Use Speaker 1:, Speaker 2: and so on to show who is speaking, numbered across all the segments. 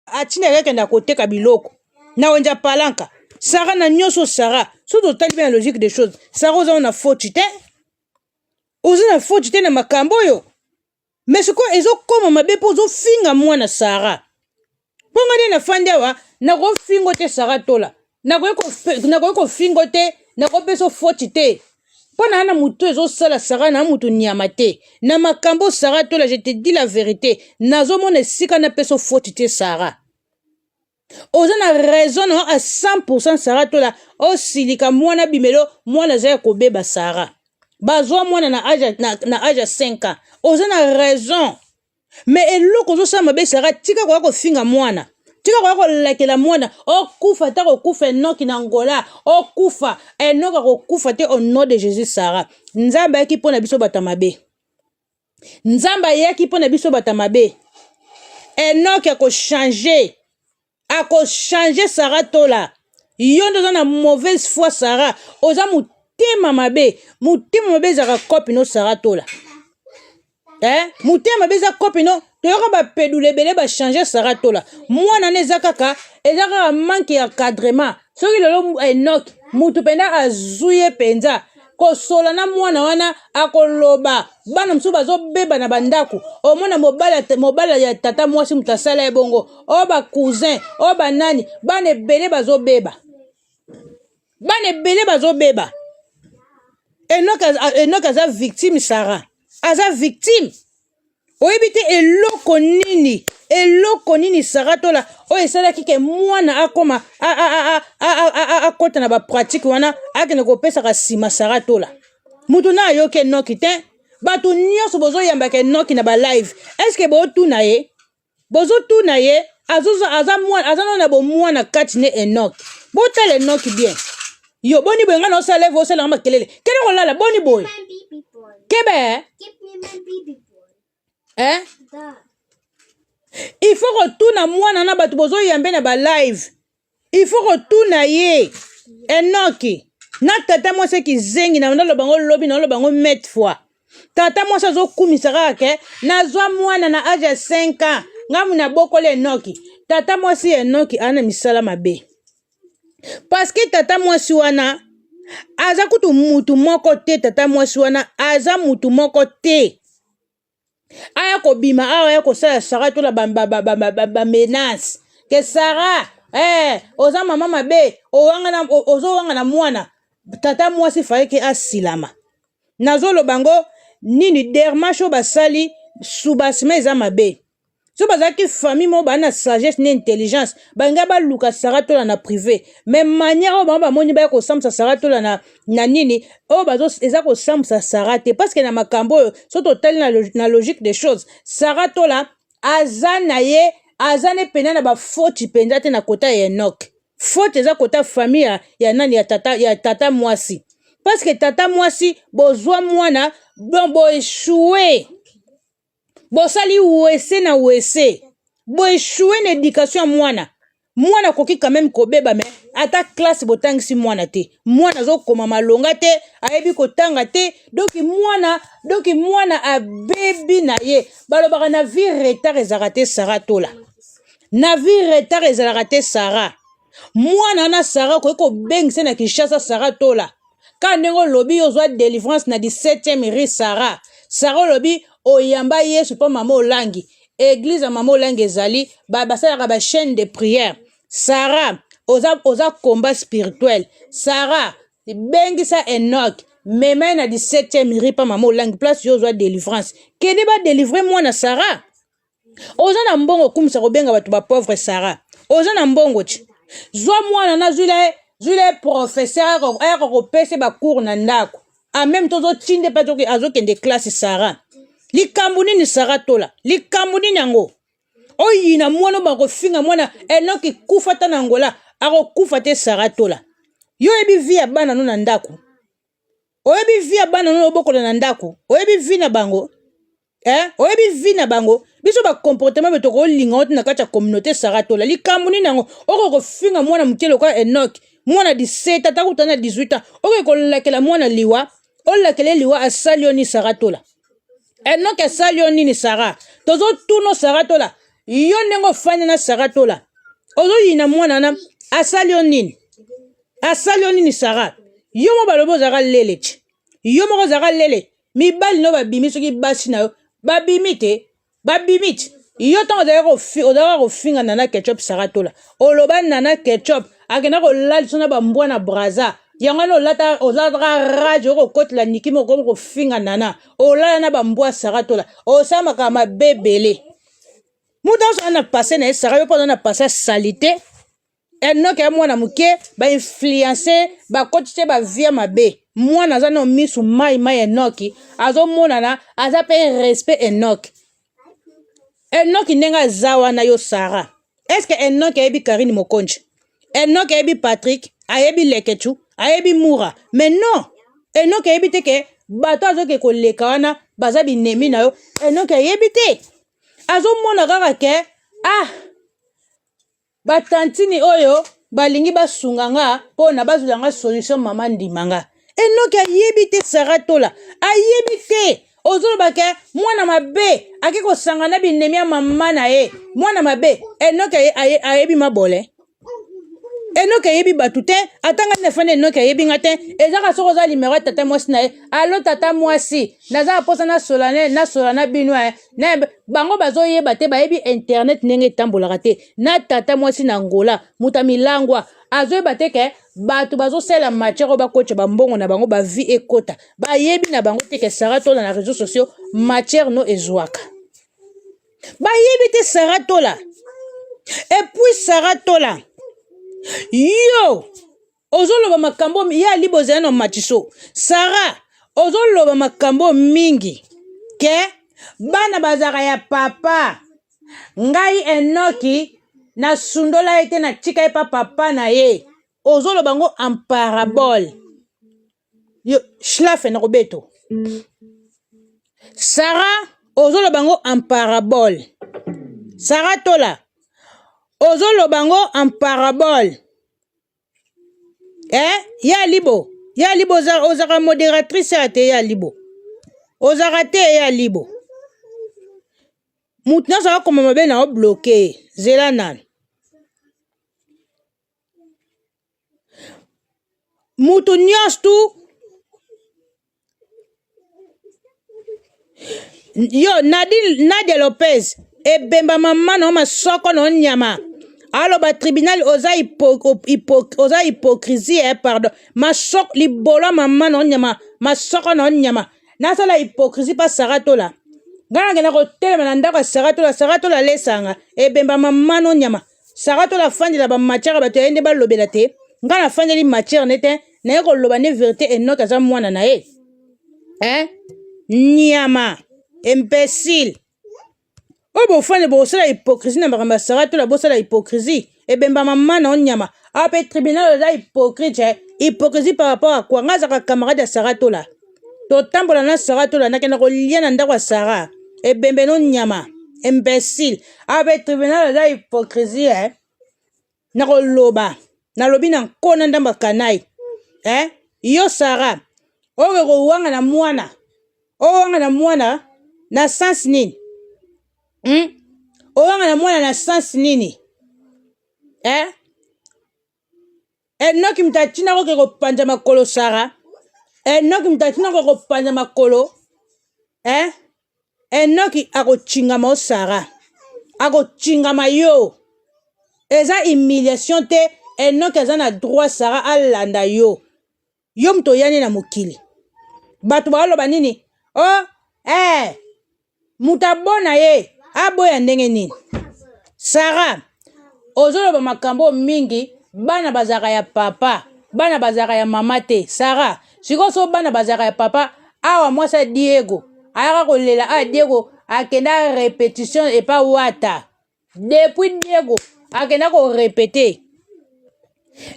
Speaker 1: atina yake na koteka biloko na wenja palanka sara na nyonso sara soki totali mpe na logique des choses sara oza na foti te oza na foti te na makambo oyo me sikoyo ezokoma mabe mpo ozofinga mwana sara mpo ngai nde nafandi awa nakofingo te sara tola nakoki kofingo te nakopesa foti te mpo na na motu ezosala sara na motu nyama te na makambo sara tola je te dis la verite nazomona esika napesa foti te sara oza na raison na a 100 sara tola osilika mwana bimelo mwana aza ya kobeba sara bazwa mwana na age na, na age ya 5 ans oza na raison me eloko ozosala mabe sara tika koya kofinga mwana tika koya kolakela mwana okufa ata kokufa enoki na ngola okufa enoki akokufa te au nom de jesus sara nzambe ayaki mpo na biso bato ya mabe nzambe ayaki mpo na biso bato ya mabe enoki akochange ako changer Sarah Tola yo nde oza na mauvaise foi Sarah oza motema mabe motema mabe ezaka kopi no Sarah Tola eh motema mabe eza kopi no toyoka bapedule ebele bachange Sarah Tola mwana ne eza kaka eza kaka manque ya cadrement soki lelo enoki motu mpenza azwi ye mpenza kosola na mwana wana akoloba bana mosusu bazobeba na bandako omona mobala ya tata mwasi moto asala ye bongo o bacousin o banani bana ebele bazobeba bana ebele bazobeba enoke aza victime sara aza victime oyebi te eloko nini eloko nini sara tola oyo esalaki ke mwana akoma akota na bapratike wana akende kopesaka nsima sara tola motu na ayoki enoki te bato nyonso bozoyambaka enoki na balive estce bootuna ye bozo tuna ye azo aza mwana aza nano na bomwana kati ne enoki botala enoki bien yo boni boye ngai naosala leve osalanga makelele kende kolala boni boye kebe eh, eh? il faut kotuna mwana na bato bozoyambe na balive il faut kotuna ye enoki na tata mwasi kizengi na naloba ngo lobi na naloba ngo mete fois tata mwasi azokumisa kaka ke nazwa mwana na age ya 5 ans ngai muna bokoli enoki tata mwasi ya enoki ana misala mabe paske tata mwasi wana aza kutu mutu moko te tata mwasi wana aza mutu moko te aya kobima awa aya kosala sara tola bamenance ke sara eh, oza mama mabe ozowanga na mwana tata mwasi faike asilama nazoloba ngo nini dermash oyo basali subasima eza mabe soki bazalaki famille moko baa na sagesse na intelligence balingai baluka sara tola na privé mais manière oyo bango bamoni baya kosambwisa sara tola na, na nini oyo bazo eza kosambwisa sara te parce que na makambo oyo soki totali na, na logique des choses sara tola aza na ye aza ne mpena na bafoti mpenza te na kota ya enok foti eza kota famille ya, ya nani ya tata, ya tata mwasi parce que tata mwasi bozwa mwana donc boeshue bosali wese na wese boeshue na education ya mwana mwana akoki quand même kobeba me ata classe botangisi mwana te mwana azokoma malonga te ayebi kotanga te donki mwana donki mwana abebi na ye balobaka na vie retard ezalaka te sara tola na vie retard ezalaka te sara mwana wana sara okoki kobengisa na kinshasa sara tola ka ndenge olobi yo ozwa delivrance na 17e rue sara sara olobi oyamba yesu mpo mama olangi eglize ya mama olangi ezali basalaka bachaine de prière sara oza, oza combat spirituel sara bengisa enok mema ye na 17e rue mpa mama olangi place yo ozwa delivrance kende badelivre mwana sara oza na mbongo okumisa kobenga bato ba pauvre sara oza na mbongo ti zwa mwana na zwila ye zwila ye professeur ayaka kopesa bacour na ndako en même temps ozotinde mpe azokende classe sara likambo nini sara tola likambo nini yango oyina mwana oyo bakofinga mwana enoki kufa ta na ngola akokufa te sara tola yo oyebi vi ya bana no na ndako oyebi vi ya bana nono obokola na ndako oyebi vi na bango eh? oyebi vi na bango biso bacomportement be tokolinga ngo ti na kati ya communauté saratola likambo nini yango okoki kofinga mwana moke lokola enoke mwana 17 ata kuta na 18 ans okoki kolakela mwana liwa olakela ye liwa asali yo ni saratola enoke asali yo nini sara tozotuno saratola yo ndenge ofandi na saratola ozoyina mwana na asali yo nini asali yo nini sara yo moko balobi ozalaka lelece yo moko ozalaka lele mibali no babimi soki basi na yo babimi te babimi te yo ntango ozalaka kofinga nana ketchup sara tola oloba nana ketchup akenda kolalisa na bambwa na braza yango wana olata ozalaka rage okokotela niki moko okomi kofinga nana olala na bambwa sara tola osala makambo mabe ebele moto nyonso aza na pase na ye sara yo mpo oza na pase ya salite enoke ya mwana moke bainfluence bakoti te bavie mabe mwana aza na misu mai mai enoki azomonana aza mpe respect enoki enoki ndenge aza wana yo sara eske enoki ayebi karine mokonji enoki ayebi patrik ayebi leketu ayebi mura mais non enoki ayebi te ke bato azoke koleka wana baza binemi na yo enoki ayebi te azomona kaka ke ah batantini oyo balingi basunga nga mpo na bazwela nga solution mama ndima nga enoki ayebi te sara tola ayebi te ozoloba ke mwana mabe ake kosanga na binemi ya mama na ye mwana mabe enoki ayebi mabole enoki ayebi bato te ata ngai nafandi enoki ayebi ngai te ezaka soki oza limero ya tata mwasi na ye alo tata mwasi naza na mposa nasola na bino na bango bazoyeba te bayebi internet ndenge etambolaka te na tata mwasi na ngola moto ya milangwa azoyeba te ke bato bazosala matière oyo bakotya bambongo na bango bavie ekota bayebi na bango te ke sara tola na réseau sociaux matière no ezwaka bayebi te sara tola epuis sara tola yo ozoloba makambo ye ali bozali na matiso sara ozoloba makambo mingi ke bana bazalaka ya papa ngai enoki nasundola ye te natika ye pa papa na ye ozoloba yango en parabole yo schlafe na kobeto sara ozoloba yango en parabole sara tola ozoloba yango en parabole eh ya libo ya libo ozaka modératrice ya te ya libo ozaka te ya libo moto nyonso akoma mabe na obloke zela nanu moto nyonso tu yo nadine nadia lopez ebemba mama na yo masoko na yo nyama aloba tribunal oza hypo, hypo, oza hypocrisie eh, pardon masoko libolo ya mama na yo nyama masoko na yo nyama nasala hypocrisie mpa sara tola ngai nakenda kotelema na ndako ya sara tola sara tola alesanga ebemba mama na yo nyama Sarah to la fandi la ba matière ba to yende ba lobela te. Nga na fandi li matière nete na yeko loba ne vérité et note aza mwana na ye. Hein? Niama, imbécile. Oyo bofane bosala hypocrisie na makambo ya Sarah to la bosala hypocrisie. Ebemba mama na onyama. Ape tribunal oza hypocrite. Hypocrisie par rapport à quoi? Nga zaka camarade ya Sarah to la. totambola na sara tolandaki na kolia na ndako ya sara ebembe no nyama imbecile abe tribunal aza hypocrisie eh? na koloba nalobi na nkona ndambo ya kanai eh? yo sara oyo kowanga na mwana owanga na mwana na sens nini hmm? owanga na mwana na sens nini eh? enoki moto atina koke kopanza makolo sara enoki moto atina koke kopanza makolo eh? enoki akotingama o sara akotingama yo eza humiliation te enoki aza na droit sara alanda yo yo moto oyani na mokili bato baoloba nini o oh, eh, moto abona ye aboya ndenge nini sara ozoloba makambo oyo mingi bana bazalaka ya papa bana bazalaka ya mama te sara sikoyo so bana bazalaka ya papa awa mwasi ya diego ayaka kolela awa diego akenda repetition epa wata depuis diego akenda ko repete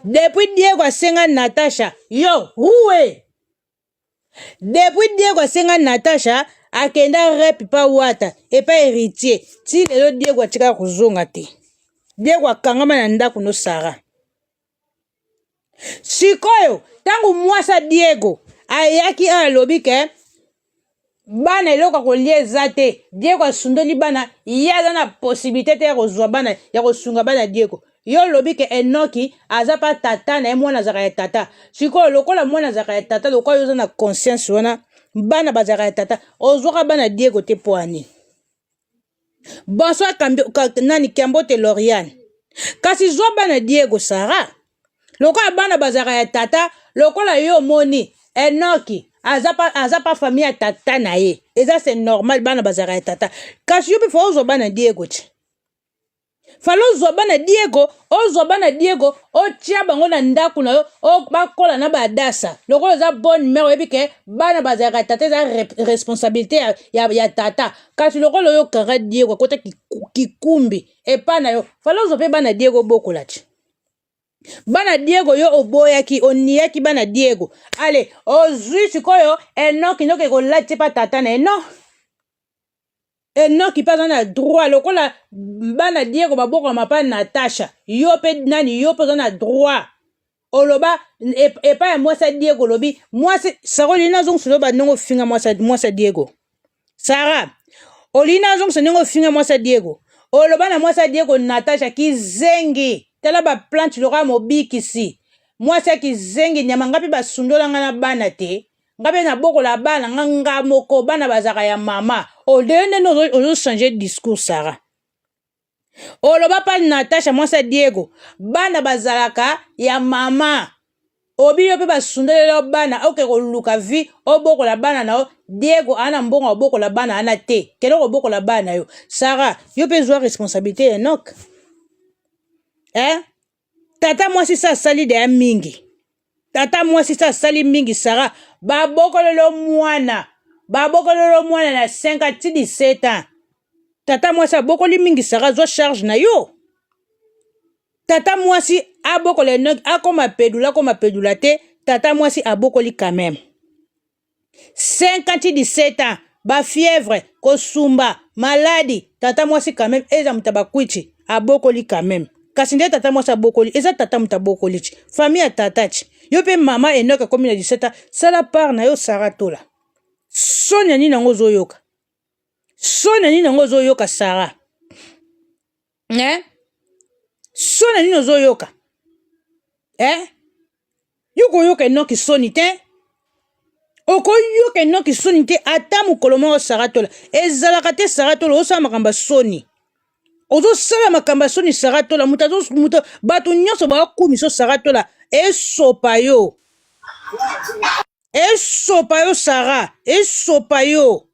Speaker 1: depuis diego asenga natasha yo rue depuis diego asenga natasha akenda rep pa wata epa héritier ti lelo diego atikala kozonga te diego akangama na ndako no sara sikoyo ntango mwasi ya diego ayaki oyo alobi ke bana eloko ya kolia eza te diego asundoli bana ye aza na posibilité te ya kozwa bana ya kosunga bana diego yo olobi ke enoki aza mpa tata na ye mwana azalaka ya tata sikoyo lokola mwana azalaka ya tata lokola yo oza na conscience wana bana bazalaka ya tata ozwaka bana diego te mpo ani Bonsoir nani Kiambote Loriane. Kasi zwa bana Diego Sara. Lokola bana bazaka ya tata, lokola yo moni Enoki aza pa aza pa famille ya tata na ye. Eza c'est normal bana bazaka ya tata. Kasi yo pe faut ozwa bana Diego ti. fala ozwa bana diego ozwa bana diego otya bango na ndako na yo bakola na badasa lokola oza bonne mare oyebi ke bana bazalaka tata eza responsabilité ya, ya, ya tata kasi lokola oyo kara diego akota kikumbi epa na yo fala ozwa mpe bana diego obokola ti bana diego yo oboyaki oniyaki bana diego ale ozwi sikoyo enoki noki ekolati mpa tata na ye non enoki mpe aza na droit lokola bana diego babokama mpa natasha yo mpe nani yo mpe oza na droit oloba epai ya mwasi ya diego olobi mwasi sara olingi nazongisa oloba ndenge ofinga mwasi ya diego sara olingi nazongisa ndenge ofinga mwasi ya diego oloba na mwasi ya diego natasha kizengi tala baplante lokola mobikisi mwasi ya kizengi nyama ngai mpe basundola ngai na bana te nga mpe nabokola bana nga nga moko bana bazalaka ya mama odeye nde nde ozochange discours sara oloba mpa natasha mwasi ya diego bana bazalaka ya mama obi yo mpe basundeleli yo bana oke koluka vi obokola bana na yo diego aa na mbongo obokola bana ana te kende kobokola bana yo sara yo mpe zwa responsabilité ya enoke eh? tata mwasi sa asali deya mingi tata mwasi sa asali mingi sara babokololo mwana babokololo mwana na 5 ti 17 ans tata mwasi abokoli mingi sara zwa charge na yo tata mwasi abokola enoki akoma pedula akoma pedula te tata mwasi abokoli quand même 50 ti 17 ans ba fièvre kosumba maladi tata mwasi quand même eza moto bakwiti abokoli quand même kasi nde tata mwasi abokoli eza tata moto abokoli ti famille ya tata ti yo mpe mama enoke akomi na 17 ans sala part na yo sara tola soni ya nini yango ozoyoka soni ya nini yango ozoyoka sara eh? so na nini ozoyoka eh? yo koyoka enoki soni te okoyoka enoki soni te ata mokolo moko saratola ezalaka te saratola osala makambo ya soni ozosala makambo ya soni saratola moto bato nyonso bakokumiso saratola esopa yo esopa yo sara esopa yo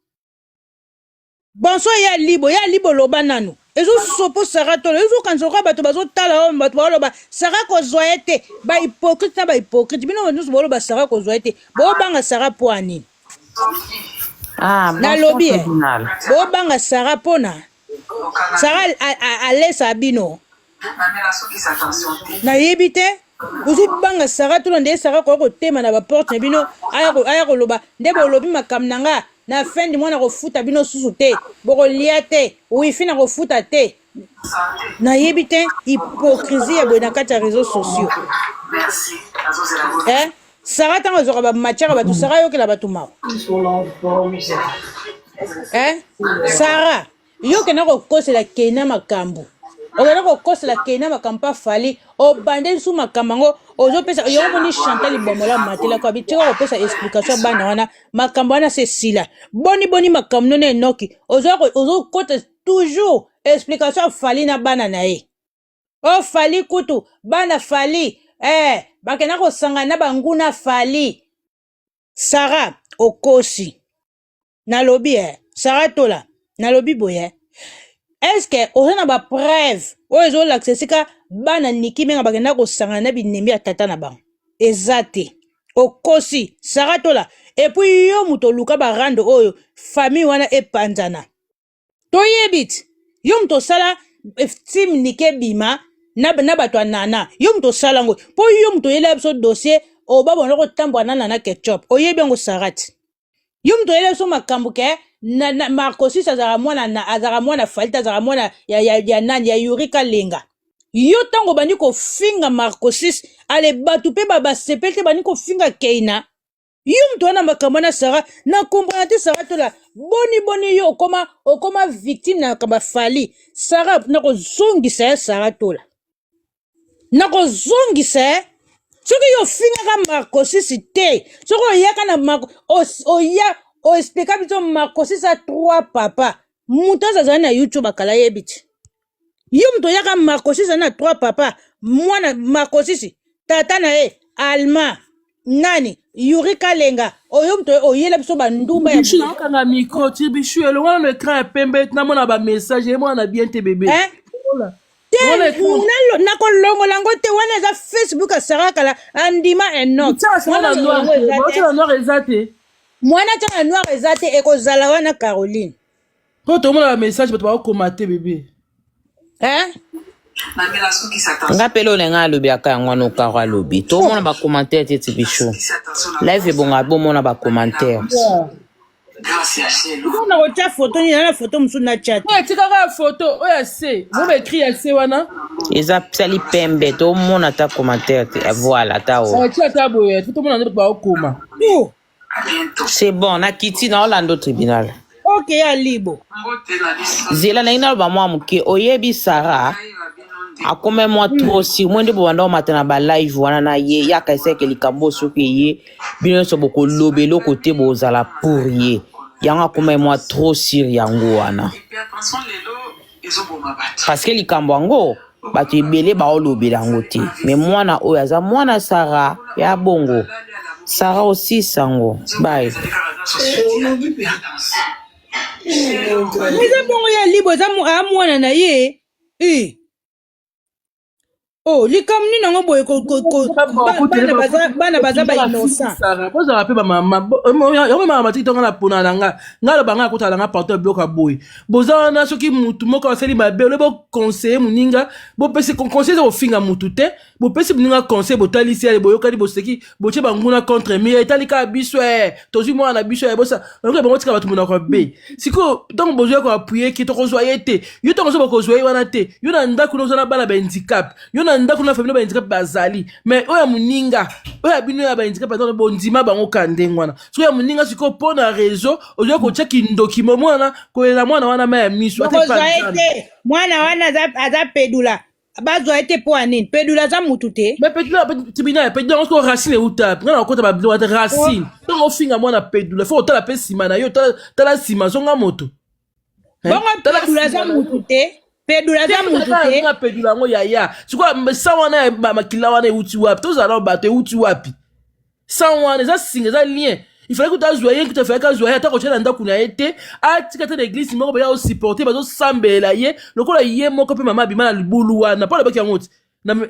Speaker 1: bonso ya libo ya libo loba nanu ezosopo sara tolo ezokanisa lokola bato bazotala oyo bato baoloba sara kozwa ye te bahypocrite na bahypocrite bino bato nyonso baoloba sara kozwa ye te bobanga sara mpo ya nini ah, nalobi bobanga sara mpona sara alesa bino nayebi te ozobanga sara tuna nde sara koya kotema na baporte na bino aya koloba nde bolobi makambo na nga na fin du mois nakofuta bino susu te bokolia te wifi nakofuta te nayebi te hypocrisie ya boye na kati ya réseaux sociaux eh? sara ntango azwaka bamatiaka bato sara ayokela bato mawa eh? sara Yo kena kokosela kena makambo. Okena kokosela kena makambo pa fali. Obande nsu makambo yango ozopesa yo moni Chantal Bomola matela kwa bitika kopesa explication ya bana wana makambo wana se sila. Boni boni makambo none enoki ozo ozo kota toujours explication ya fali na bana na ye. Oh fali kutu bana fali eh bakena kosangana na banguna fali. Sarah okosi. nalobi eh sara tola nalobi boye eh. eske oza na bapreuve oyo ezolakisa esika bana niki menga bakenda kosangana na binembi ya tata na bango eza te okosi sara tola epui yo moto oluka barando oyo famille wana epanzana toyebi ti yo moto osala eh, tim nike bima na, na bato ya nana yo moto osala yango mpo yo moto oyelaka biso dossier oba bona kotambwa na nana ketchup oyebi yango sarati yo moto oyelaka biso makambo ke na, na, marcosis azalaka mwana na azalaka mwana falite azalaka mwana ya, ya, ya nani ya yurika lenga yo ntango obandi kofinga marcosis ale bato mpe basepeli te bandi kofinga keina yo moto wana makambo wana sara na komprana te sara tola boni boni yo okoma okoma victime na makambo ya fali sara nakozongisa ya sara tola nakozongisa ya soki yo ofingaka marcosisi te soki oyaka na marco oya oexplika biso marcosisi a trois papa moto aza azali na youtube akala yebi te yo moto oyaka makosisa na trois papa mwana makosisi tata na ye alma nani yuri kalenga oyo moto oyela biso bandumba ya bichu boye nakokanga micro
Speaker 2: ti bichu elongola na ekran ya pembe ti namona bamessage eyebona na bien te bebe hein? Longola. te
Speaker 1: Longola ekran. nalo- nakolongola yango te wana eza facebook ya sara kala andima enok Tia sara mwana na noir yango te.
Speaker 2: eza Baotia te na noir eza te mwana tia na
Speaker 1: noir eza te ekozala wana caroline Po tomona
Speaker 2: ba message bato bakokoma te bebe. Eh?
Speaker 3: nga pele olenga alobi aka yango wana okaro alobi tomona bacommentaire te ti biso live ebonga bomona bacommentaire
Speaker 1: mpona kotya foto nini na foto mosusu natya te etikaka ya foto
Speaker 2: oyo ya se boba ekri ya se wana eza sali
Speaker 3: pembe tomona ata commentaire te eh, voilà ata o atya ata boye tomona
Speaker 2: nde baokoma
Speaker 3: c'est bon nakiti na olando tribunal oke ya
Speaker 1: libo
Speaker 3: zela naye naloba mwa moke oyebi sara akoma mwa trop sur mwe nde bobanda omata na balive wana na ye ye akaisaki likambo oyo soki eye bino nyonso bokoloba eloko te bozala pour ye yango akoma mwa trop sur yango wana ezoboma bato parce que likambo yango bato ebele baolobela yango te mais mwana oyo aza mwana sara ya bongo sara osi sango baye
Speaker 1: eza bongo ya libo eza mwana na ye eh. Oh, likambo nini yango boye ko- ko- ko- ba- bana baza- bana baza ba innocent bozala mpe
Speaker 2: bamamamama matiki tonga na pona na nga nga loba nga akotala na nga partout ya biloko ya boye boza wana soki mutu moko asali mabe ole boconseille moninga bopesi conseil eza kofinga mutu te bopesi moninga conseil botalisi ale boyokani boseki botie banguna contre mire etali kaka biso e tozwi mwana na biso ebosa oyoka bango tika bato monoko be sikoyo ntango bozwi yako appuye ki tokozwa ye te yo ntango ozoba kozwa ye wana te yo na ndako na oza na bana bahandicap yo na ndako na famille bahandicap bazali mais oyo ya moninga oyo ya bino ya bahandicap aza bondima bango ka ndenge wana sikoyo ya moninga sikoyo mpo na réseau ozwi kotia kindoki mo mwana kolela mwana wana ma ya miso mwana
Speaker 1: wana aza pedula bazwa ye te mpo ya nini pedula aza mutu te mais pedula tribunal
Speaker 2: pedula yango soko racine euta nga nakota babilo ata racine ntongo ofinga mwana pedula fo otala mpe nsima na yo tala nsima zonga moto bongo
Speaker 1: pedula aza mutu te pedula aza mutu te pedula yango yaya
Speaker 2: sikoyo sa wana ya makila wana euti wapi tozala bato euti wapi sans wana eza singa eza lien il fallait kutu azwa ye kutu afalaki azwa ye ata kotya na ndako na ye te atika te na eglise moko mpenza osupporte bazosambela ye lokola ye moko mpe mama abima na libulu wana mpo alobaki yango ti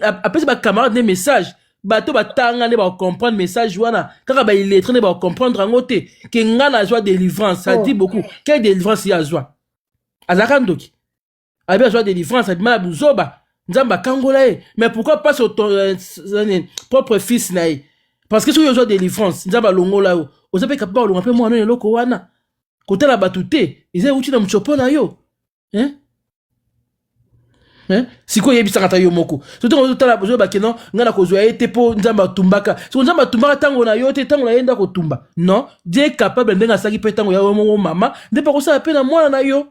Speaker 2: apesi bacamarade nde message bato batanga nde bacomprendre message wana kaka baillettre nde bacomprendre yango te ke ngai nazwa délivrance ça dit beaucoup quelle délivrance ye azwa azalaka ndoki abi azwa délivrance abima na buzoba nzambe akangola ye mais pourquoi pas sur ton euh, euh, propre fils na ye parce que soki ozwa délivrance nzambe alongola yo oza mpe kapable olonga mpe mwana oyo eloko wana kotala bato te eza euti na motsopo na yo hein? Eh? sikoyo oyebisaka ata yo moko soki ozotala ozoyeba keno ngai nakozwa ye te mpo nzambe atumbaka siko nzambe atumbaka ntango na yo te ntango na ye nde akotumba non die capable ndenge asalaki mpe ntango ya yo moko mama nde mpe akosala mpe na mwana na yo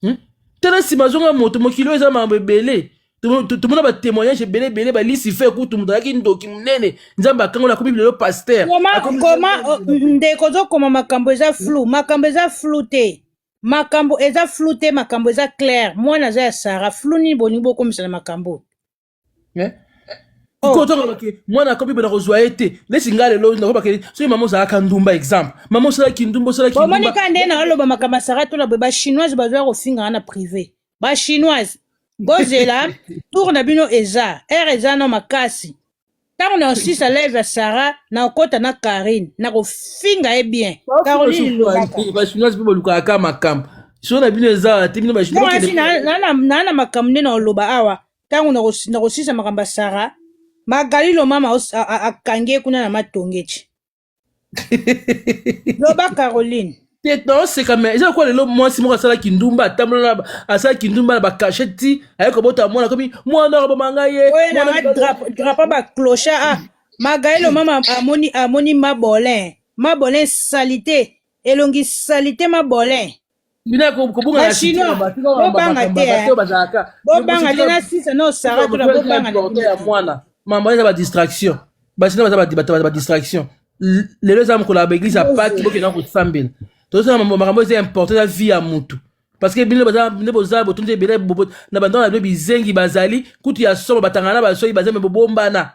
Speaker 2: hmm? tala nsima azonga moto mokili oyo eza makambo ebele tomona batémoignage ebele ebele balisi fe kutu moto alaki ndoki monene nzambe akangola akomi lelo paster oh,
Speaker 1: ndeko ozokoma makambo eza flou makambo eza flou te makambo eza flou te makambo eza claire mwana aza ya sara flou nini bolingi bokomisa na makambo eh? sikoyo
Speaker 2: oh. tokoloba ke mwana akomi bana kozwa ye te neti ngai lelo nakoba ke soki mama ozalaka ndumba exemple mama osalaki ndumba osalaki omoni ka nde naoloba
Speaker 1: makambo asara tola boye bachinoise bazoya kofingaka na privé bachinoise bozela tour na bino eza ere eza na makasi ntango na osisa live ya sara na okota na karine na kofinga ye bien caroline lobakabachinoise
Speaker 2: mpe bolukaka ka makambo so na bino eza te bino bachinoise
Speaker 1: na makambo nde na oloba awa ntango na kosisa makambo ya sara magali lomama akangi ye kuna na matongeci loba caroline te toseka
Speaker 2: me eza lokola lelo mwasi moko asala kindumba atambola asala kindumba na bakashe ti aye kobota mwana
Speaker 1: komi
Speaker 2: mwana akoboma ngai ye drapo bacloche a
Speaker 1: magaele omama amoni amoni mabolin mabolin salite elongi salite mabolin bina ko-
Speaker 2: kobunga na site Bachinois, na bato kaka ba- bobanga
Speaker 1: ba- ba- te, bato eh. oyo bazalaka bobanga te na sisa no sara tuna bobanga na porte ya bino.
Speaker 2: mwana mama eza badistraction basina baza badi- bato baza badistraction L- lelo eza mokolo ya baeglise ya paki bokenda kosambela tozosala mambo- makambo eza importe eza vie ya motu parce que bino baza- nde boza botondi ebele bo- bo- na bandako na bino bizengi bazali kutu ya somo batangana na basoki bazembe bobombana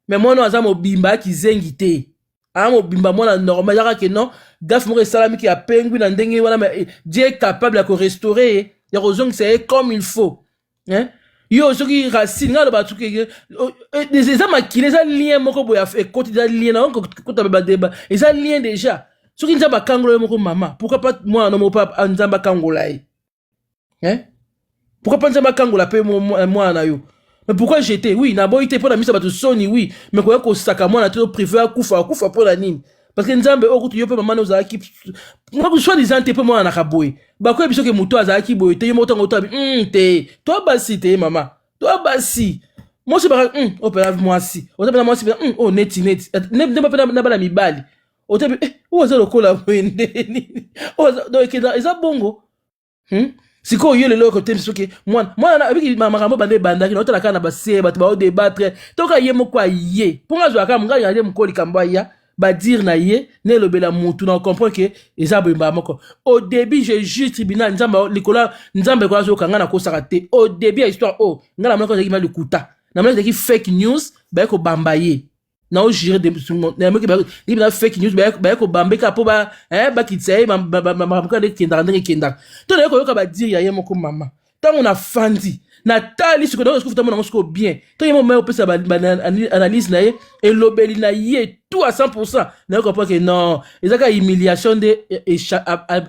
Speaker 2: me mwana oyo aza mobimba ya kizengi te aa mobimba mwana normal yaka ke non gafe moko esalami ke apengwi na ndenge wana ma eh, dieu est capable ya korestore ye ya kozongisa ye comme il faut hein? yo soki racine ngai aloba soki eh, oh, eh, eza makila eza lien moko boye ekoti eza lien na kota badeba eza lien déjà soki nzambe akangola ye moko mama pourquoi pas mwana no moko mpe nzambe akangola ye hein pourquoi pas nzambe akangola mpe mwana na yo mais pourquoi jete oui naboyi te mpo na misa bato soni oui mais koya kosaka mwana te prive akufa akufa mpo na nini parce que nzambe oyo kutu yo mpe mama na ozalaki soit disant te mpe mwana naka boye bakoya biso ke moto azalaki boye te yo moko ntango otoabi mm, te to basi te mama to basi mwasi baka mm, oyo mpena mwasi oza mpena mwasi mpena mm, oyo oh, neti neti nde mpe na bana mibali otebi eh, oyo aza lokola boye nde nini oyo ekenda eza bongo hmm? sikoyo yo lelo okotembi soki mwana mwana abiki makambo banda ebandaki na otala kaka na base bato baodebatre toka ye moko aye mpo nga azwaka mongai aye moko likambo aya badire na ye na elobela motu na okomprendre ke eza boyembaka moko au début je juge tribunal nzambe likolo nzambe ekola azoyoka ngai nakosaka te au début ya histoire oyo oh, ngai namonaki ozalaki ma lokuta namonaki ezalaki fake news baye kobamba ye nao jure nayoki ndenge na fake news baye kobambeka mpo eh, bakitisa ye makambo kaka nde ekendaka ndenge ekendaka to naye koyoka badire ya ye moko mama ntango nafandi natali sikoyo nayoka sikofuta monango sikoyo bien to ye moma opesa analyse na ye elobeli na ye tout à 100 pourcent nayoka mpo ke non eza kaka humiliation nde eh, eh,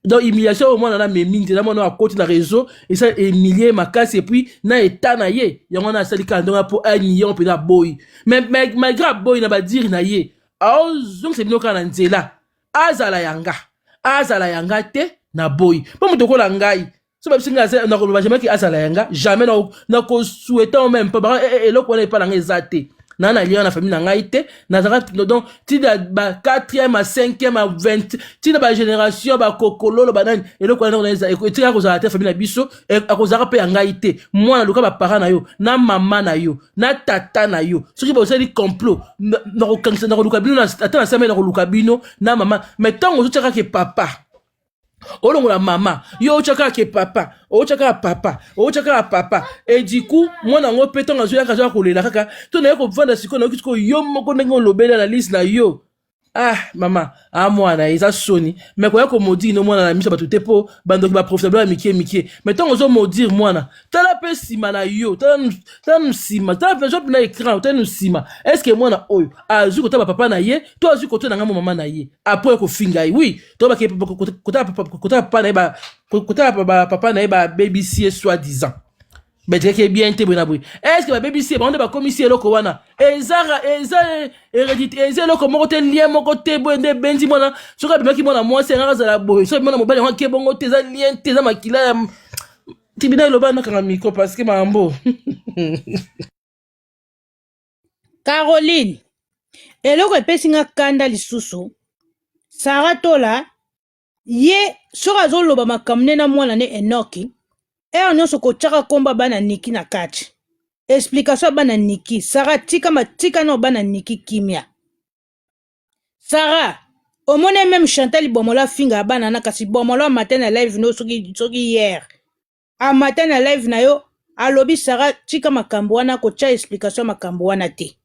Speaker 2: donc humiliation oyo mwana na memi nzela mwana oyo akoti na réseau esa emilie makasi epuis na eta na ye yango wana asali kaka ndenge mpo anion mpenza aboyi malgré aboyi na badiri na ye aozongisa bino kaka na nzela azala yanga azala yanga te na boyi mpo moto okola ngai so babisi nga nakoloba jamais ke azala ya nga jamais nakosouhaita o meme mpo baka eh, eh, eloko wana epa na nga eza te na na liana na famille na ngai te nazalaka donc ti na ba 4e ma 5e ma 20 ti na ba génération ba kokololo banani eloko wana eza etika kozala te famille na biso e, akozalaka mpe ya ngai te mwana luka baparent na yo na mama na yo na tata na yo soki bosali complot nakokangisa nakoluka bino ata na same nakoluka bino na mama mais ntango ozotiaka ke papa olongola mama yo otya kaka ke papa otya kaka papa otya kaka papa e du coup mwana yango mpe ntango azoyaka azoya kolela kaka to naye kovanda sikoyo nayoki sikoyo yo moko ndenge olobeli analyse na yo ah mama ah mwana eza soni me koya komodire no mwana na miso bato te mpo bandoki baprofitable ya mikie mikie me ntango ozomodire mwana tala mpe nsima na yo tala nu nsima tala mpe mpena écran tala nu nsima estce mwana oyo azwi kotala bapapa na ye to azwi koto na ngai mo mama na ye apres kofinga ye wi to bake kotala papa na ye ba kotala ba papa na ye ba babc ye soit disant bajekaki bien te boye na boye est ce que ba babc bango nde bakomisi eloko wana eza eza hérédité eza eloko moko te lien moko te boye nde ebenzi mwana soki abimaki mwana mwasi yangaka azala boye soki mwana mobali yango ake bongo te eza lien te eza makila ya tibina eloba nakanga miko parce que mambo
Speaker 1: Caroline eloko epesi nga kanda lisusu Sarah Tola ye soki azoloba makambo nde na mwana ne Enoki heure nyonso kotyaka nkomba bana Niki na kati explication ya bana Niki Sarah tika matika nao bana Niki kimia Sarah omoni meme Chantal Bomolo afinga bana na kasi Bomolo amata na live no soki soki hier amata na live na yo alobi sara tika makambo wana kotya explication ya makambo wana te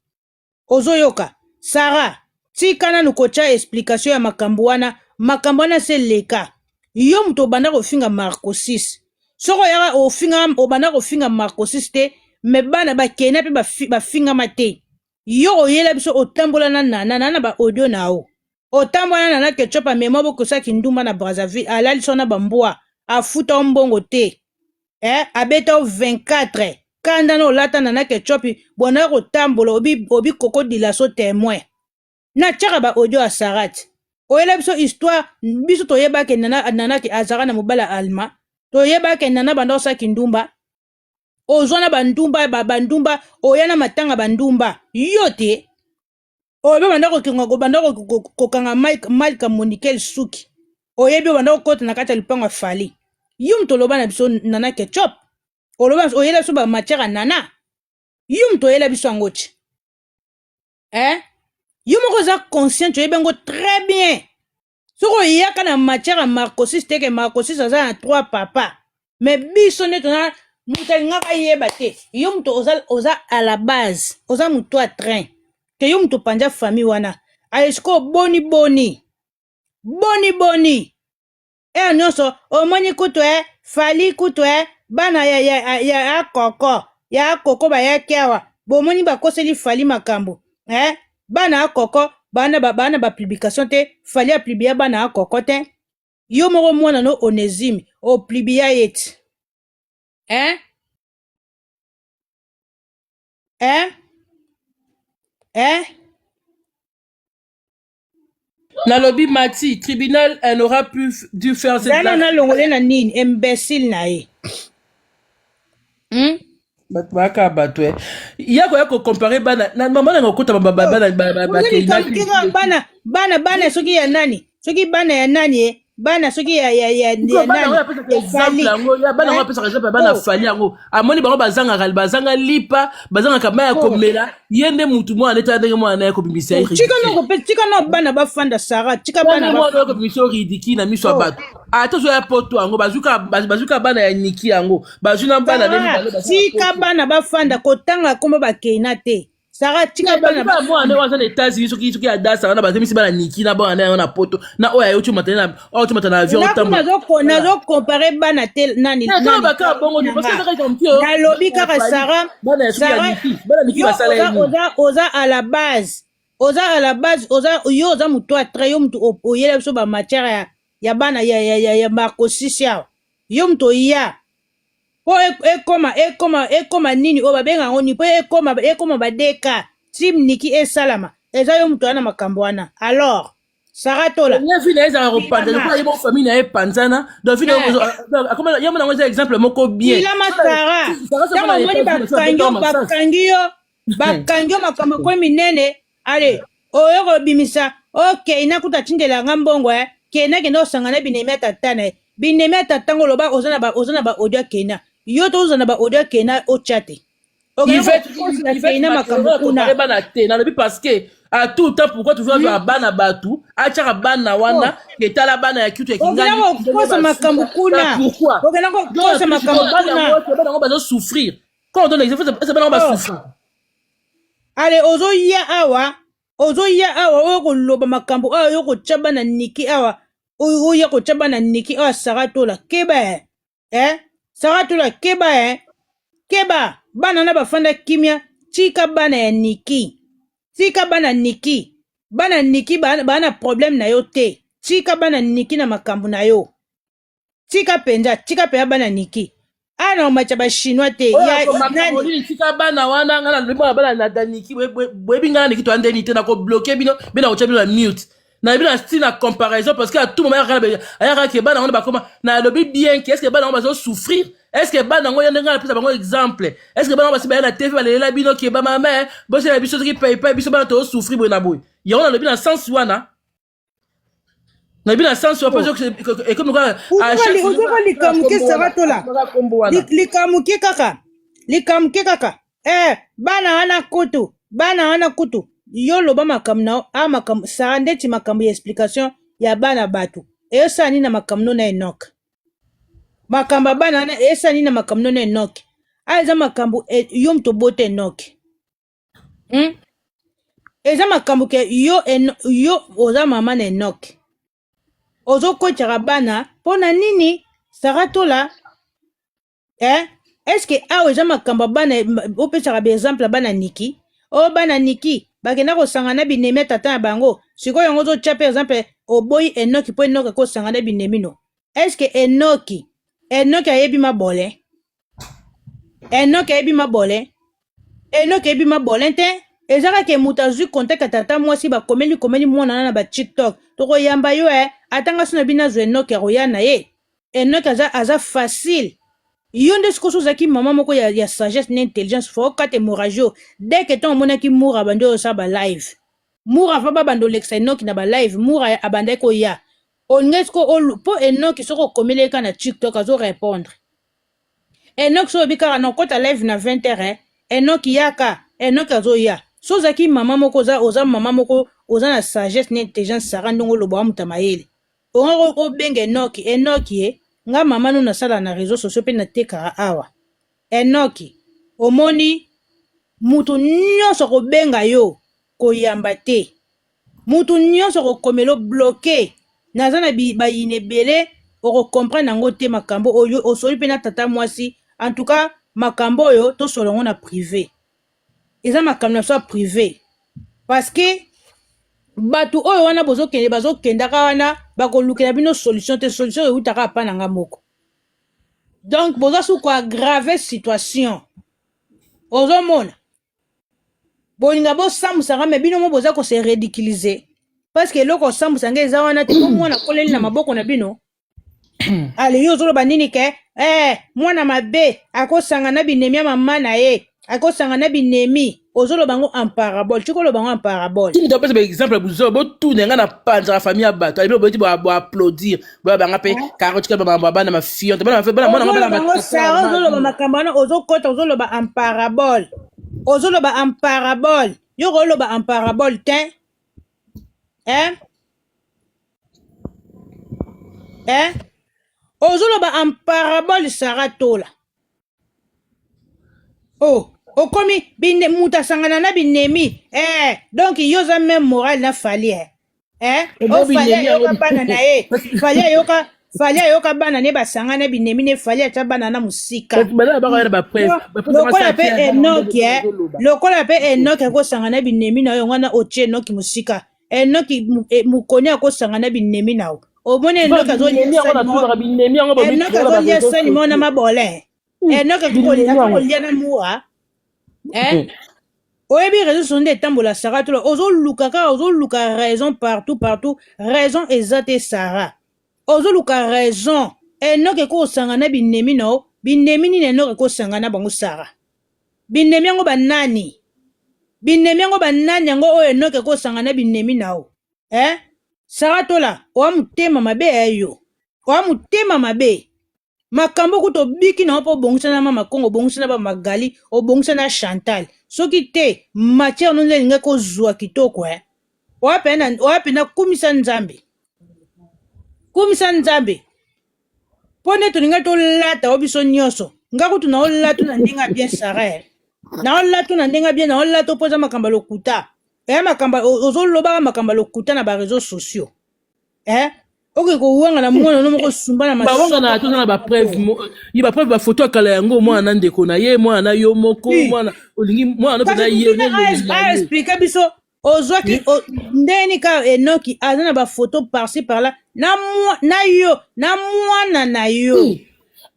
Speaker 1: ozoyoka sara tika nanu kotya explication ya makambo wana makambo wana se leka yo moto obanda kofinga marco 6 soko oyaka ofinga obanda kofinga marco 6 te me bana bakena mpe bafingama te yo oyela biso otambola na nana nana ba audio na yo otambola na nana ketchup amema bokosa kindumba na brazzaville alalisa yo na bambwa afuta yo mbongo te eh, abeta yo 24 kanda na olata nana ketchup bonaya kotambola obi, obi kokodila so temoin natyaka ba audio ya sarat oyela biso histoire biso toyebake nana, nana ke azalaka na mobala alma toyebake nana banda osala kindumba ozwa na bandumba ba bandumba oya na matanga bandumba yo te oyo mpe banda kokenga kobanda kokanga malika monikel suki oyebi obanda kokota na kati ya lopango ya fali yo moto oloba na biso nana ketchup oloba oyela biso bamatière ya nana yo moto oyela biso yango ti eh? yo moko oza consciente oyebi yango très bien soki oyaka na matière ya marcosis te ke marcosis aza na trois papa me biso nde tona moto alingaka ayeba te yo moto oza, oza à la base oza moto ya train ke yo moto opanza famille wana aye sikoyo boni boni boni boni ere nyonso omoni kutu e fali kutu e bana ya, ya, ya, ya, ya koko ya koko bayaki awa bomoni bakoseli fali makambo eh? bana ya koko bana ba bana ba publication te fali ya publia bana ya koko te yo moko mwana no onezime o publia ye ti eh eh
Speaker 2: eh nalobi mati tribunal elle aura pu dû faire cette zana na longole na nini
Speaker 1: imbecile na ye hmm?
Speaker 2: bato bayaka bato eh. ya koya kocompare bana na mama nanga okota oh. bana bana bana bana
Speaker 1: soki ya nani soki bana ya nani eh? bana soki ya ya ya ya bana yango apesaka exemple
Speaker 2: yango ya bana yango apesaka exemple ya bana fali yango amoni bango bazangaka bazanga lipa bazangaka mai ya komela ye nde mutu mwana nde tala ndenge mwana naye kobimisa ye tika noko pe tika no
Speaker 1: bana bafanda sara tika bana mwana kobimisa yo ridiki
Speaker 2: na miso ya bato ata ozo ya poto yango bazuka bazuka bana ya niki yango bazwi na bana nde tika
Speaker 1: bana bafanda kotanga kombo bakei na te Sarah tika bana ba mwana nde waza na
Speaker 2: États-Unis soki soki ya dasa wana bazemisi bana Niki na bana nayo na poto na oyo ayo chuma tena na oyo chuma tena avion tambo na zo na
Speaker 1: zo comparer bana tel nani na zo baka bongo ni
Speaker 2: parce que kaka kampio na lobi kaka
Speaker 1: Sarah bana ya Niki
Speaker 2: bana Niki basala yini oza oza à la
Speaker 1: base oza à la base oza yo oza mutu atre yo mutu oyela biso ba matière ya ya bana ya ya ya, ya Marco Sisi awa yo mutu oya po ekoma ekoma ekoma nini oyo babenga yango nini po ekoma ekoma ba DK team Niki esalama eza yo moto wana makambo wana alors Sarah Tola ye vile ezala kopanza
Speaker 2: lokola ye moko famille na ye epanzana donc vile akoma ye mona yango eza exemple moko bien bilama Sarah
Speaker 1: ntango omoni bakangi yo bakangi yo bakangi yo makambo ekwe minene ale oyo kobimisa okei na kuta atindela nga mbongo eh. kena kenda osanga na binemi ya tata na ye binemi ya tata ngo loba oza na ba oza na ba audio ya kena yo toza na ba audio ya kena otya te Okende Yvette,
Speaker 2: kokosa Yvette Keyna makambo Makelele, kuna. tokale bana te nalobi parce que à tout temps pourquoi toujours azwaka bana bato atyaka bana wana etala bana ya kitu ya okenda kingani kokosa makambo
Speaker 1: kuna pourquoi okenda
Speaker 2: kokosa makambo
Speaker 1: kuna bana yango bazosouffrir
Speaker 2: Quand on donne l'exemple, c'est pas normal. Allez,
Speaker 1: ozo ya awa, ozo ya awa, oyo ko loba makambo, awa yo ko chaba na niki awa, oyo ya ko chaba na niki awa saratola, keba eh, eh, saratola keba eh, keba, bana na bafanda kimia, tika bana ya niki, tika bana niki, bana niki bana problème na yo te, tika bana niki na makambo na yo. tika penza tika penza bana niki awa na komatisa bachinois te oyo ya akoma nani caroline
Speaker 2: tika bana wana ngai nalobi bana bana na daniki boye- boye- boyebi ngai na niki toyande nini te nakobloke bino mpe nakotya bino na mute nayebi na style na comparaison parce que atuma mayaka na be- ayaka ke bana wana bakoma nalobi bien ke estce bana yango bazosouffrir estce bana yango yande ngai napesa bango exemple estce bana yango basi baya na tv balelela bino ke bamama bosela biso soki paipai biso bana tosouffrir boye na boye yango nalobi na sens wana nayebi na sense wapo ekomi ozoka likamuke saratola
Speaker 1: likamuke kaka likamuke kaka eh bana wana kutu bana wana kutu yo loba makambo na a makambo sara ndeti makambo ya explication ya bana bato eyosala nini na makambo no na enoke makambo ya bana wana eyosala nini na makambo no na enoke ayo eza makambo e, yo moto obota enoke hmm? eza makambo ke yo, en, yo oza mama na enoke ozokotyaka bana mpo na nini saratola eh? eske awa eza makambo ya bana opesaka baexemple ya bana niki o oh, bana niki bakenda kosanga na binemi ya tata na bango sikoyo yango ozotya mpe exemple oboyi enoki mpo enoki akosanga na binemi no eske enoki enoki ayebi mabole enoke eyebi mabole enoke eyebi mabole te eza kaka moto azwi contact ya tata mwasi bakomeli komeli mwana wana na ba tiktok tokoyamba yo e eh. atanga so na bino azwa enoke akoya na ye enoke aza, aza facile yo nde sikoso ozalaki mama moko ya, ya sagesse na intelligence fo okata hémorragie oyo dès que ntango omonaki mura abandi oyo osala balive mura fa babanda olekisa enoki na balive mura abandaki koya olingaki siko mpo enoki soki okomeleka na tiktok azo répondre Enoch so oyebi kaka na okota live na 20 heures eh. Enoch yaka. Enoch azoya. So ozaki mama moko oza oza mama moko oza na sagesse na intelligence Sarah ndongo lobo amuta mayele. Onga ko ko benga Enoch Enoch ye nga mama no nasala na réseaux sociaux pe na teka awa. Enoch omoni mutu nyonso akobenga yo koyamba te. Mutu nionso akokomela yo bloque naza na bayini ebele oko comprendre yango te makambo oyo osoli pe na tata mwasi en tout cas makambo oyo tosolo yango na prive eza makambo na biso ya prive parce que bato oyo wana bozokende bazokendaka wana bakolukela bino solution te solution ewutaka apa na nga moko donc boza su koagrave situation ozomona bolinga bosambusa nga me bino mo boza ko se ridiculiser parce que eloko osambusa nga eza wana te po mwana akoleli na maboko na bino ale yo ozoloba nini ke eh, mwana mabe akosanga na binemi ya mama na ye akosanga na binemi ozoloba yango en parabole tiki oloba yango en parabole timi topesa baexemple ya
Speaker 2: buzoba botuna nga na panzaka famille ya bato alobi obeti boaplaudir boya banga mpe karo tika bamambo ya bana mafionte bana mafe bana mwana ngo bana ozoloba ngo sara ozoloba
Speaker 1: makambo wana ozokota ozoloba en parabole ozoloba en parabole yo oloba en parabole te eh? Eh? ozoloba en parabole sara tola oh okomi bine moto asangana na binemi eh, donc yo oza meme moral na fali eh. Eh, Ebo oh, fali binemi yango ayoka bana na ye fali ayoka fali ayoka bana ne basanga na binemi ne fali atya bana na mosika kasi bana na baka wana baprese Lo- lokola mpe enoki eh, lokola mpe enoki akosanga na binemi na yo yango wana otie enoki mosika enoki eh, mokoni akosanga na binemi na yo omoni enoki azolia sani mona mabole hmm. enoki akolia na mua eh? hmm. oyebi réseau sociaux nde etambola sara tola ozoluka kaka ozoluka raison partout partout raison eza te sara ozoluka raison enoki ekosanga na binemi na yo binemi nini enoki ekosanga na bango sara Binemi yango ba nani? Binemi yango ba nani yango oyo Enoch eko sanga na binemi na yo eh? Sarah Tola oa mutema mabe eh yo oa mutema mabe makambo kutu obiki na yo po obongisa na mama Congo obongisa na ba Magali obongisa na Chantal soki te matière no nde elingaki ozua kitoko eh? Oa pena oa pena kumisa Nzambe kumisa Nzambe mpo nde tolingai tolata o biso nyonso nga kutu na olatu na ndenge ya bien sara eh. na olatu na ndenge ya bien na olatu mpo eza makambo ya lokuta eh, makambo ya- o- ozolobaka makambo ya lokuta na bareseau sociaux eh, okoki kowanga na mwana no moko osumba na bawanga na masoko toza na
Speaker 2: bapreuve mo- ye bapreuve bafoto ya kala yango mwana na ndeko na ye mwana na yo moko Oui. mwana olingi mwana no mpenza kasi ye mutuna nde elongi na a ye explike
Speaker 1: biso ozwaki o- ndenge nini kaka enoki aza na bafoto parci parla na mwa- na yo na mwana na yo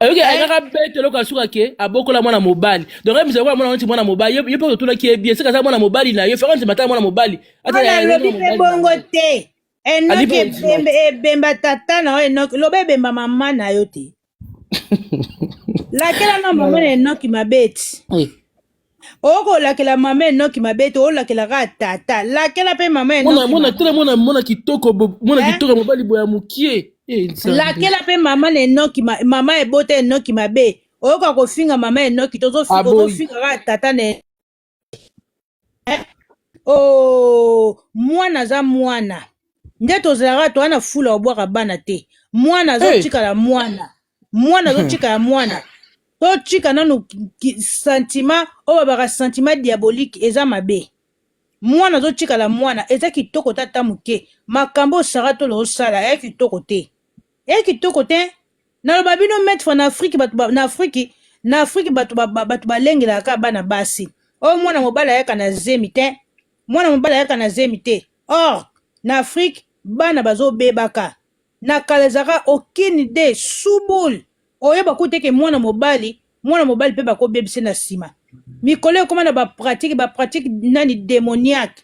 Speaker 1: oyoki ayinaka
Speaker 2: bete eloko asuka ke abokola mwana mobali donc mizali wana mwana neti mwana mobali yo yo mpe otuna ke bien sika aza mwana mobali na yo faka nzima ata mwana mobali ata wana ya- alobi mpe
Speaker 1: bongo te enoki ebemba ebemba tata na yo enoki loba ebemba mama na yo te lakela na mama na enoki mabeti okolakela mama enoki mabeti olakelaka tata lakela mpe mama enokimona tele mwana mwana kitoko
Speaker 2: mwana eh? kitoko mobali boya mokie eh, lakela
Speaker 1: mpe mama na enoki mama ebota enoki mabe oyoka kofinga mama enoki tozofinga kaka tata na eh? oh, mwana aza mwana nde tozalaka toa na fula obwaka bana te mwana azotikala hey. mwana mwana azotikala mwana totika nanu sentiment oyo babaka sentiment diabolique eza mabe mwana azotikala mwana eza kitoko tata moke makambo osara tolo osala eya kitoko te Eye kitoko te naloba bino maitre na afriki bato na afriki na afriki bato bato balengelaka kaka bana basi oyo oh, mwana mobali ayaka na zemi te mwana mobali ayaka na zemi te or na afriki bana bazobebaka na kala ezalaka aucune idee subul oyeba kutu eke mwana mobali mwana mobali mpe bakobebisa na nsima mikolo ekoma na bapratike bapratike nani demoniaque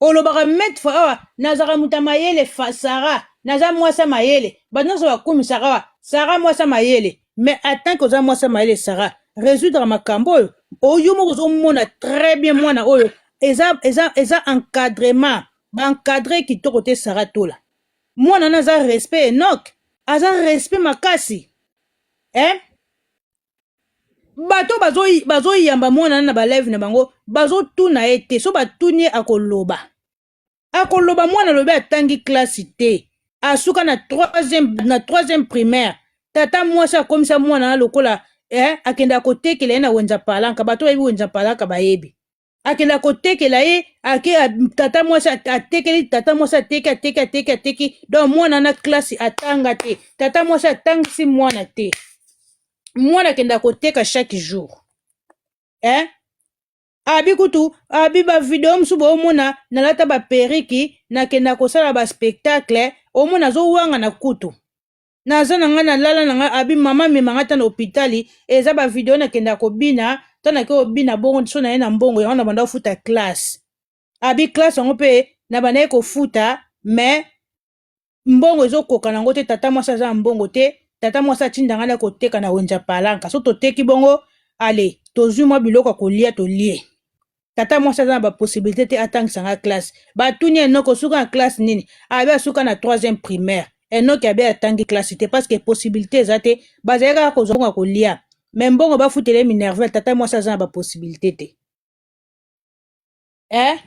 Speaker 1: olobaka maitre fois awa nazalaka moto ya mayele fa sara naza mwasi ya mayele bato nyonso bakumisaka awa sara mwasi ya mayele mais atanke oza mwasi ya mayele sara résoudre makambo oyo oyo moko ozomona très bien mwana oyo eza, eza, eza encadrement baencadre kitoko te sara tola mwana wana aza respect enok aza respect makasi eh? bato bazoyamba mwana na baleve na bango bazotuna ye te so batuni ye akoloba akoloba mwana alobi atangi klasi te asuka na troisième na troisième primaire tata mwasi akomisa mwana na lokola eh, akendaka kotekela ye na wenza palanka bato bayebi wenza palanka bayebi akenda kotekela ye ake tata mwasi atekeli tata mwasi ateki ateki ateki ateki donc mwana na klasi atanga te tata mwasi atangisi mwana te mwana akenda koteka chaque jour eh? abi kutu abi bavideo mosusu boomona nalata baperiki nakenda kosala baspectacle omona azowangana kutu naza na ngai nalala na ngai abi mama amema ngai ata na hopitali eza bavideo nakenda kobina ta nake obina bongo so naye na mbongo yango nabanda kofuta classe abi classe yango mpe nabandaki kofuta me mbongo ezokoka nango te tata mwasi aza na mbongo te tata mwasi atinda ngai na koteka na wenza palanka so toteki bongo ale tozwi mwa biloko ya kolia tolie tata mwasi aza na bapossibilité te atangisa nga classe batuni enoko osuka na classe nini abe asuka na troisième primaire enoki abe atangi classe te parce que possibilité eza te bazali kaka kozwa mbongo ya kolia me mbongo bafutele minerval tata mwasi aza na bapossibilité te eh?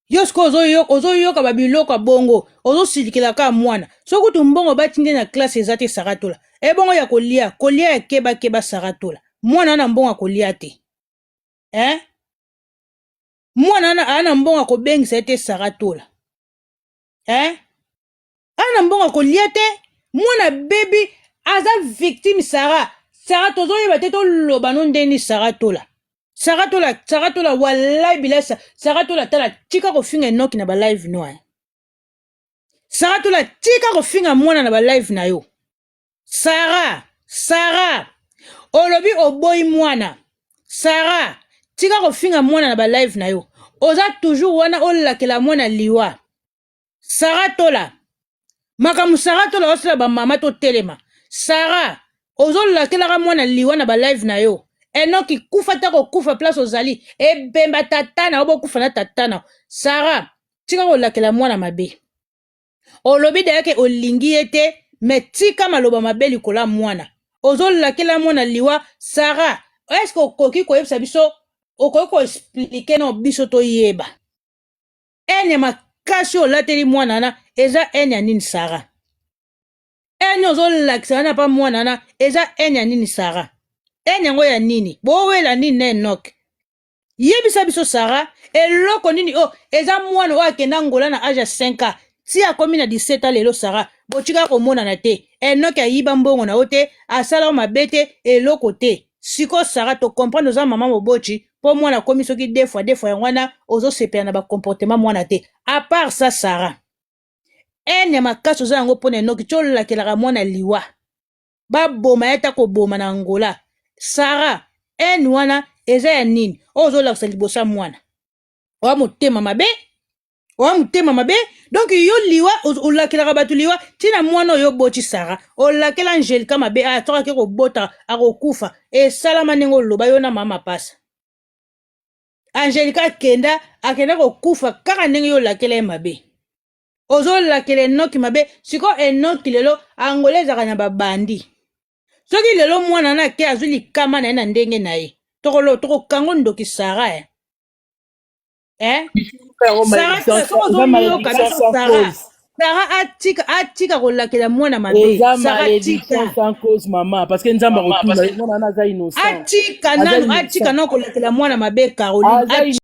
Speaker 1: yo sikoyo ozoyoka babiloko ya bongo ozosilikela kaka mwana soki kutu mbongo batindi na classe eza te saratola ebongo ya kolia kolia ya kebakeba saratola mwana wana mbongo ya kolia te eh? mwana wana aa na mbongo akobengisa ye te sara tola eh? aa na mbongo akolia te mwana bebi aza victime sara sara tozoyeba te toloba no ndeni sara tola sara tola sara tola walai bilasa sara tola tala tika kofinga enoki na balive no eh? sara tola tika kofinga mwana na balive na yo Sarah, Sarah, olobi oboyi mwana. Sarah, tika kofinga mwana na ba live na yo. Oza toujours wana olakela mwana liwa. Sarah Tola, makambo Sarah Tola osala ba mama to telema. Sarah, ozolakelaka mwana liwa na ba live na yo. Enoki kufa ta kokufa place ozali. Ebemba tatana obokufa na tatana. Sarah, tika kolakela mwana mabe. olobi daya ke olingi ye te me tika maloba mabe likolo ya mwana ozolakela mwana liwa sara eske okoki koyebisa biso okoki koexplike no biso toyeba ene makasi olateli mwana wana eza ene ya nini sara ene ozolakisa wana pa mwana wana eza ene ya nini sara ene yango ya nini bowela nini na enoke yebisa biso sara eloko nini oyo oh, eza mwana oyo akenda angola na age ya 5 ans ti akomi na 17 ans lelo sara botika komonana te enoki ayiba mbongo na yo te asala yo mabe te eloko te siko sara tokomprendre oza mama moboti mpo mwana akomi soki de fois de fois yango wana ozosepela na bacomportement mwana te apart sa sara ene ya makasi oza yango mpo na enoki ti olakelaka mwana liwa baboma ye ata koboma na angola sara ene wana eza ya nini oyo ozolakisa liboso ya mwana oya motema mabe oya motema mabe donk yo liwa olakelaka bato liwa ntina mwana oyo oboti sara olakela angelika mabe aya soki ake kobota akokufa esalama ndenge oloba yo na mama pasa angelika akenda akenda kokufa kaka ndenge yo olakela ye mabe ozolakela enoki mabe siko enoki lelo angola ezalaka na babandi soki lelo mwana na ke azwi likama na ye na ndenge na ye tokokango ndoki sara eh? Eh? sara atika atika kolakela mwana mabeatika nanu atika nanu kolakela mwana mabe caroline